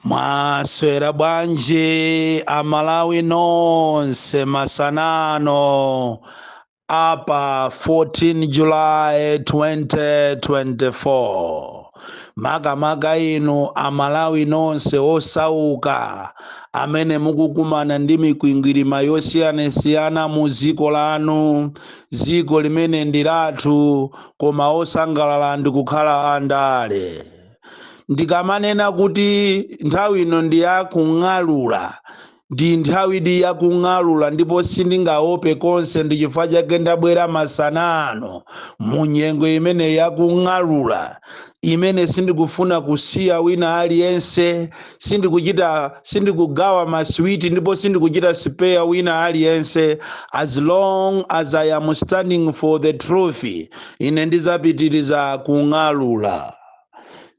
mwaswera bwanji amalawi nonse masana ano pa 14 july 2024 makamaka inu amalawi nonse osauka amene mukukumana ndi mikwingwirima yosiyanasiyana mu dziko lanu dziko limene ndi lathu koma osangalala ndi kukhala andale ndikamanena kuti nthawi ino ndi ya kung'alula ndi nthawidi ya kung'alula ndipo sindingaope konse ndi chifukwa chake ndabwera masana ano mu nyengo imene ya kung'alula imene sindikufuna kusiya wina aliyense sindikugawa maswiti ndipo sindikuchita spare wina aliyense as long as i am standing for the truth ine ndizapitiriza kung'alula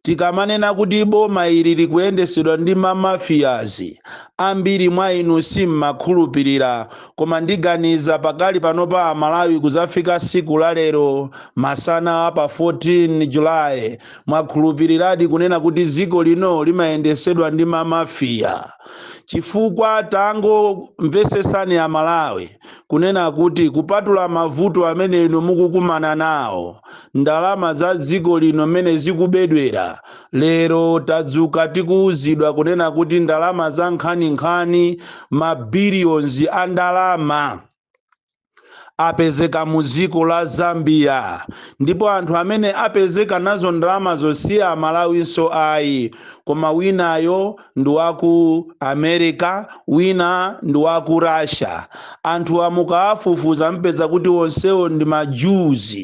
tikamanena kuti boma ili likuyendesedwa ndi mamafiyazi ambiri mwa inu simmakhulupirira koma ndiganiza pakali panopa amalawi kuzafika siku la lero masana a pa 14 julayi Mwakhulupiriradi kunena kuti dziko lino limayendesedwa ndi ma mafia? Chifukwa tangomvesesani a Malawi kunena kuti kupatula mavuto amene inu mukukumana nawo, ndalama za dziko lino mmene zikubedwera, lero tadzuka tikuuzidwa kunena kuti ndalama za nkhaninkhani, ma billions a ndalama. apezeka mu dziko la Zambia ndipo anthu amene apezeka nazo ndalamazo si amalawinso ayi koma winayo ndi wa ku America wina ndi wa ku Russia anthuwa mukawafufuza mpeza kuti onsewo ndi ma Jews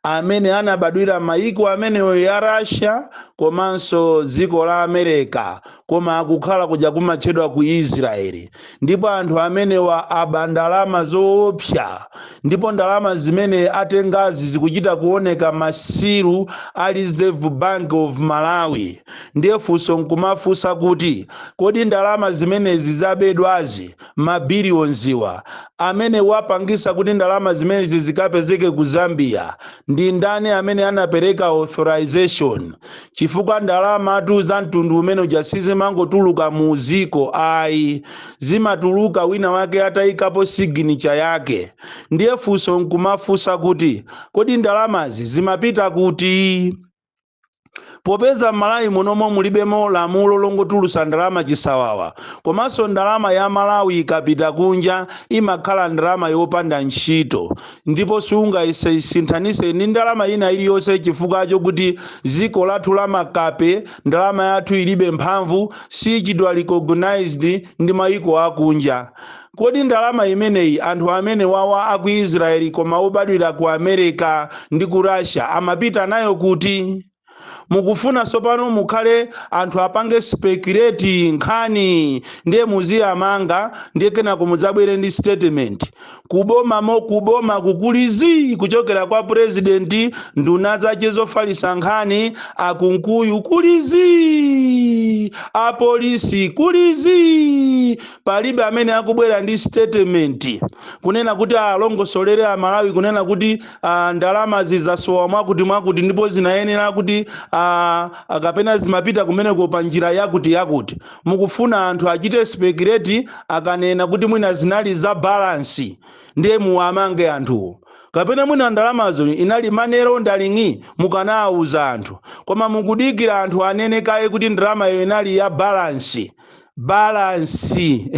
amene anabadwira mayiko amenewo ya Russia komanso dziko la America koma akukhala kuja kumatchedwa ku israeli ndipo anthu amenewa aba ndalama zoopsa ndipo ndalama zimene atengazi zikuchita kuoneka ma seal a reserve bank of malawi ndiye funso nkumafunsa kuti kodi ndalama zimenezi zabedwazi mabiliyonziwa amene wapangisa kuti ndalama zimenezi zikapezeke ku zambia ndi ndani amene anapereka authorization chifukwa ndalamatu za mtundu umene uja sizimangotuluka mu dziko ayi, zimatuluka wina wake atayikapo signature yake. Ndiye funso n'kumafunsa kuti, kodi ndalamazi zimapita kuti? Popeza m'Malawi munomo mulibemo lamulo longotulutsa ndalama chisawawa, komanso ndalama ya Malawi ikapita kunja imakhala ndalama yopanda ntchito, ndipo sungaisinthanise ndi ndalama ina iliyonse chifukwa chokuti ziko lathu la makape ndalama yathu ilibe mphamvu sichitidwa recognized ndi mayiko akunja kodi ndalama imeneyi anthu amene wawa aku israeli koma obadwira ku america ndi ku russia amapita nayo kuti mukufuna tsopano mukhale anthu apange speculate nkhani ndiye muziyamanga ndiye kenako mudzabwere ndi statement kuboma mo kuboma kuli zii kuchokera kwa president nduna zache zofalisa nkhani a Kunkuyu kuli zii apolisi kuli zii palibe amene akubwera ndi statement kunena kuti alongosolere amalawi kunena kuti ah, ndalamazi zasowa mwakuti mwakuti ndipo zinayenera kuti ah, ah, kapena zimapita kumeneko pa njira yakuti yakuti mukufuna anthu achite speculate akanena kuti mwina zinali za balance ndiye muwamange anthuwo kapena mwina ndalamazo inali manero ndaling'i mukanawuza anthu koma mukudikira anthu anene kaye kuti ndalamayo inali ya balance balansi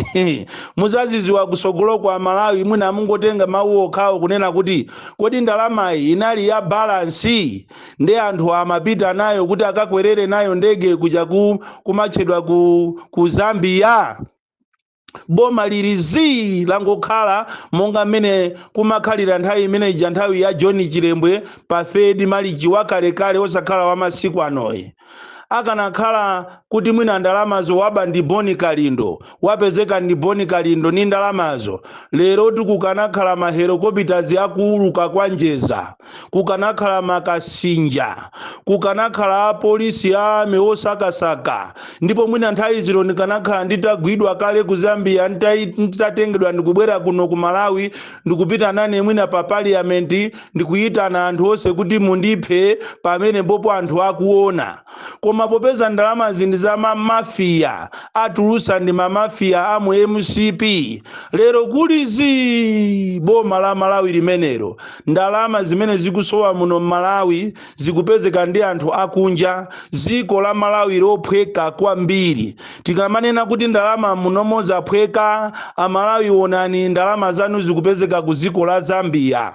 muzaziziwa kusogolo kwa malawi mwina mungotenga mawu okhawo kunena kuti kodi ndalamayi inali ya balansi nde anthu amapita nayo kuti akakwerere nayo ndege kuja ku kumatchedwa ku, ku zambia boma lili zii langokhala monga mmene kumakhalira nthawi imene ija nthawi ya john chilembwe pa third malichi wakalekale osakhala wamasiku anoyi akanakhala kuti mwina ndalamazo waba ndi boni kalindo wapezeka ndi boni kalindo ndi ndalamazo leroli kukanakhala ma helicopters akuuluka kwa njeza kukanakhala makasinja kukanakhala apolisi a army osakasaka ndipo mwina nthawi zino ndikanakhala nditagwidwa kale ku zambia nditai- nditatengedwa ndikubwera kuno ku malawi ndikupita nane mwina pa parliament ndikuyitana anthu onse kuti mundiphe pamenepopo anthu akuona koma popeza ndalamazi ndi za ma mafia atulusa ndi ma mafia a mu mcp lero kuli zii boma la malawi limenero ndalama zimene zikusowa muno m'malawi zikupezeka ndi anthu akunja ziko la malawi lophweka kwambiri tikamanena kuti ndalama munomo zaphweka amalawi onani ndalama zanu zikupezeka ku dziko la zambia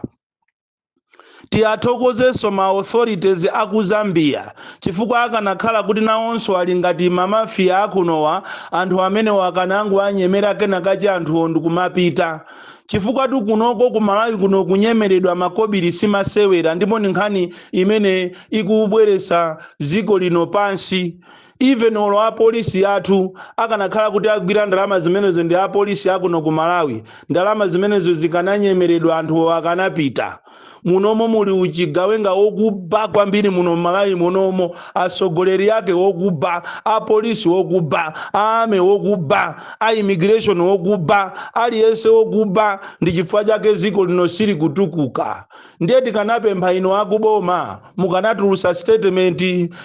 tiyathokozenso ma authorities a ku zambia chifukwa akanakhala kuti nawonso ali ngati mamafiya akunowa anthu amenewo akanangowanyemera kenakachi anthuwo ndikumapita Chifukwatu kunoko ku Malawi kuno kunyema ma kobili si masewera ndipo ndi nkhani imene ikubweretsa dziko lino pansi. Even olo a polisi athu akanakhala kuti agwira ndalama zimenezo ndi a polisi a kuno ku Malawi, ndalama zimenezo zikananyemeredwa anthuwo akanapita. munomo muli uchigawenga wokuba kwambiri muno mmalawi munomo atsogoleri ake wokuba apolisi wokuba a army wokuba a immigration wokuba aliyense wokuba ndi chifukwa chake dziko lino silikutukuka ndiye tikanapempha inu akuboma mukanatulutsa statement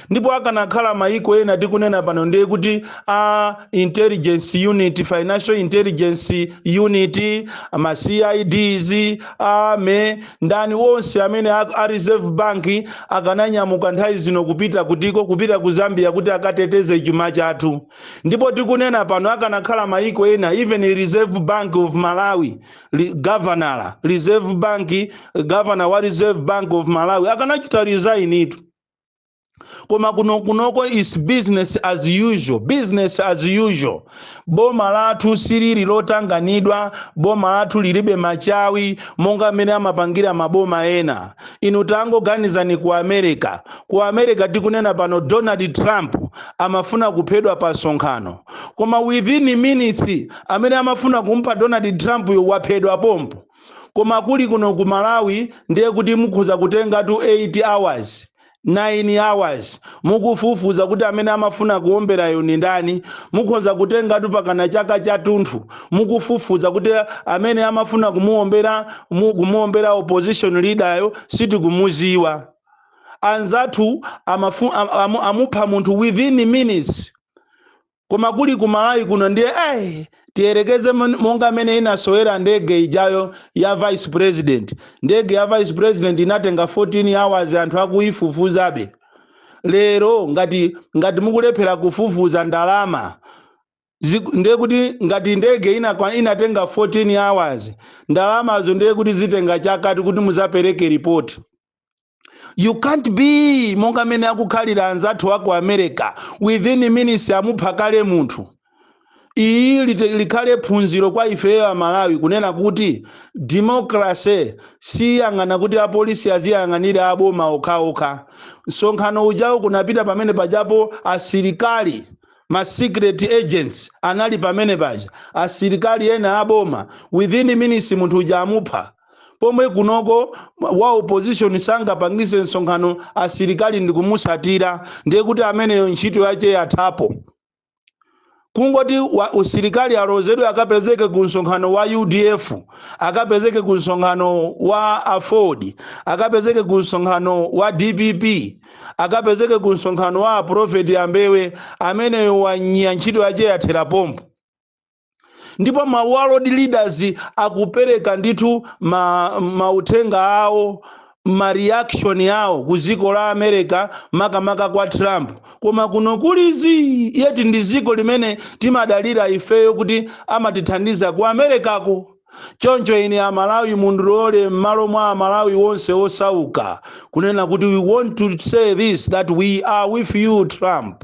ndipo akanakhala maiko ena tikunena pano ndiye kuti a intelligence unit financial intelligence unit ma cids army ndani wonse amene a, a reserve bank akananyamuka nthawi zino kupita kutiko kupita ku zambia kuti akateteze chuma chathu ndipo tikunena pano akanakhala maiko ena even reserve bank of malawi governor wa reserve bank governor wa reserve bank of malawi akanachita resign itu koma kunoko is business as usual business as usual boma lathu silili lotanganidwa boma lathu lilibe machawi monga mmene amapangira maboma ena inu tangoganizani ku america ku america tikunena pano donald trump amafuna kuphedwa pa msonkhano koma within minutes amene amafuna kumupha Donald Trump yo waphedwa pompo koma kuli kuno ku Malawi ndiye kuti mukhoza kutengatu 8 hours 9 hours mukufufuza kuti amene amafuna kuomberayo ni ndani mukhoza kutengatu pakana chaka chatunthu mukufufuza kuti amene amafuna kumuombera mu- kumuombera opposition leader yo sitikumuziwa anzathu amupha munthu within minutes koma kuli ku malawi kuno ndiye eh, tiyerekeze mon- monga mmene inasowera ndege ijayo ya vice president ndege ya vice president inatenga 14 hours anthu akuyifufuzabe lero ngati ngati mukulephera kufufuza ndalama ndiye kuti ngati ndege inakwa- inatenga 14 hours ndalamazo ndiye kuti zitenga chakatu kuti muzapereke ripoti you can't be monga mmene akukhalira anzathu aku america within minutes amupha kale munthu iyi lite- likhale phunziro kwa ifeyo amalawi kunena kuti democracy siyonena kuti apolisi aziyang'anira aboma okhaokha msonkhano ujawo kunapita pamene pajapo asilikali ma secret agents anali pamene paja asilikali ena aboma within minutes munthu uja amupha pomwe kunoko wa opposition sangapangise msonkhano asilikali ndikumusatira ndiye kuti ameneyo ntchito yache yathapo kungoti usilikali alozedwe akapezeke ku msonkhano wa udf akapezeke ku msonkhano wa aford akapezeke ku msonkhano wa dpp akapezeke ku msonkhano wa aprofeti ambewe ameneyo wanya ntchito yache yathera pompo ndipo ma world leaders akupereka ndithu mauthenga awo ma reaction awo ku dziko la america makamaka kwa trump koma kuno kuli zii yeti ndi dziko limene timadalira ifeyo kuti amatithandiza ku americako choncho ine amalawi mundilole m'malo mwa amalawi wonse osauka kunena kuti we want to say this that we are with you trump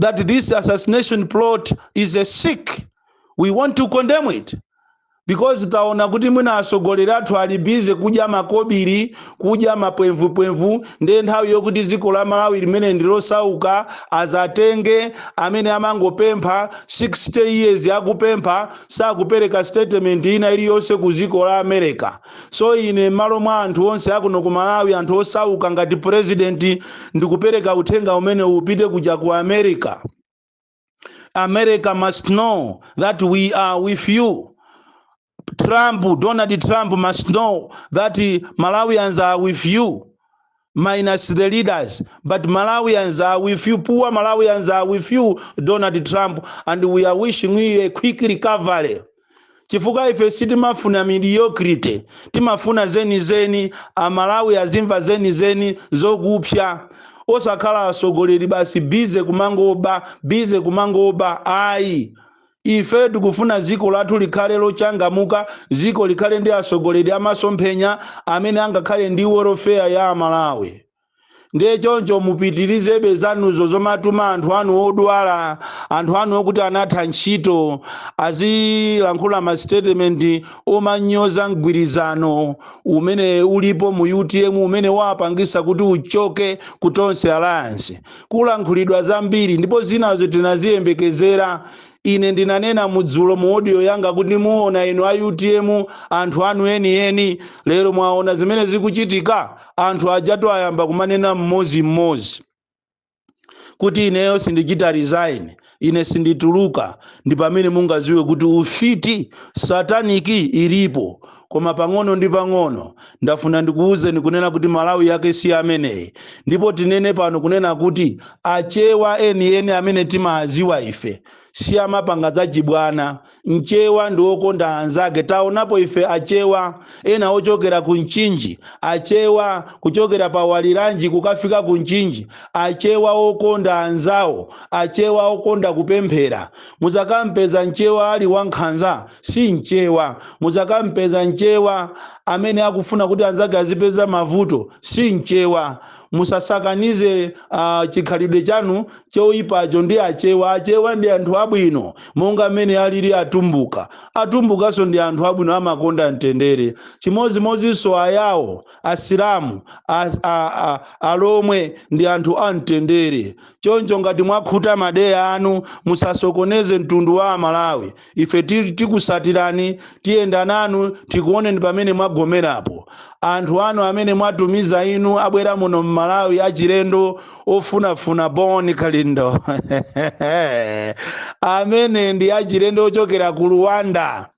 that this assassination plot is a sick we want to condemn it because taona kuti mwina atsogoleri athu ali bize kudya makobiri kudya mapwemvupwemvu ndiye nthawi yokuti dziko la malawi limene ndi losauka azatenge amene amangopempha 60 years akupempha sakupereka statement ina iliyonse ku dziko la america So ine m'malo mwa anthu onse akuno ku Malawi anthu osauka ngati president ndikupereka uthenga umenewu upite kuja ku America. America must know that we are with you. Trump, Donald Trump must know that Malawians are with you. minus the leaders but malawians are with you poor malawians are with you donald trump and we are wishing you a quick recovery chifukwa ife sitimafuna mediocrity timafuna zenizeni amalawi azimva zenizeni zokupsa osakhala atsogoleri basi bize kumangoba bize kumangoba ayi Ife tikufuna dziko lathu likhale lochangamuka, dziko likhale ndi atsogoleri a masomphenya amene angakhale ndi welfare ya a Malawi. Ndiye choncho mupitirizebe zanuzo zomatuma anthu anu odwala, anthu anu okuti anatha ntchito, azilankhula ma statement omanyoza mgwirizano umene ulipo mu utm umene wapangitsa kuti uchoke ku Tonse Alliance. kulankhulidwa zambiri, ndipo zinazo tinaziyembekezera. Ine ndinanena mu dzulo mu audio yanga kuti muona inu a utm anthu anu enieni. Lero mwaona zimene zikuchitika? Anthu ajatu ayamba kumanena mmodzi mmodzi kuti ineyo sindichita resign. ine sindituluka ndi pamene mungaziwe kuti ufiti satanic ilipo koma pang'ono ndi pang'ono ndafuna ndikuwuzeni kunena kuti malawi yake si ameneyi ndipo tinene pano kunena kuti achewa enieni amene timawaziwa ife si amapanga za chibwana Mchewa ndi wokonda anzake. Taonapo ife Achewa ena ochokera ku Mchinji, Achewa kuchokera pa Waliranji kukafika ku Mchinji, Achewa okonda anzawo, Achewa okonda kupemphera. Mudzakampeza Mchewa ali wankhanza, si Mchewa. Mudzakampeza Mchewa amene akufuna kuti anzake azipeza mavuto, si Mchewa. musasakanize uh, chikhalidwe chanu choipacho ndi achewa achewa ndi anthu abwino monga mmene alili atumbuka atumbukanso ndi anthu abwino amakonda mtendere chimodzimodzinso ayawo asilamu a- a- a- alomwe ndi anthu a mtendere choncho ngati mwakhuta madeya anu musasokoneze mtundu wa amalawi ife ti- tikusatirani tiyenda nanu tikuoneni pamene mwagomerapo anthu anu amene mwatumiza inu abwera muno mmalawi achilendo ofunafuna bon kalindo amene ndi achilendo ochokera ku luwanda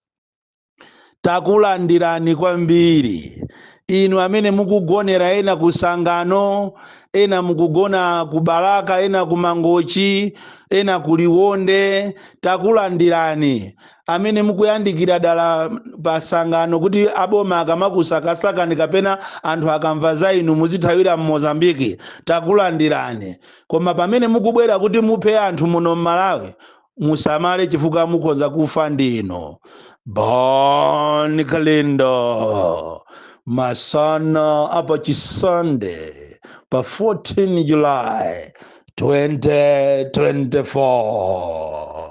Takulandirani kwambiri. Inu amene mukugonera ena ku Sangano, ena mukugona ku Balaka, ena ku Mangochi, ena ku Liwonde, takulandirani. Amene mukuyandikira dala pa Sangano kuti aboma akamakusakasakani kapena anthu akamva za inu muzithawira m'Mozambique, takulandirani. Koma pamene mukubwera kuti muphe anthu muno m'Malawi, musamale chifukwa mukhoza kufa ndinu bon kalindo masana apa chisande pa 14 july 2024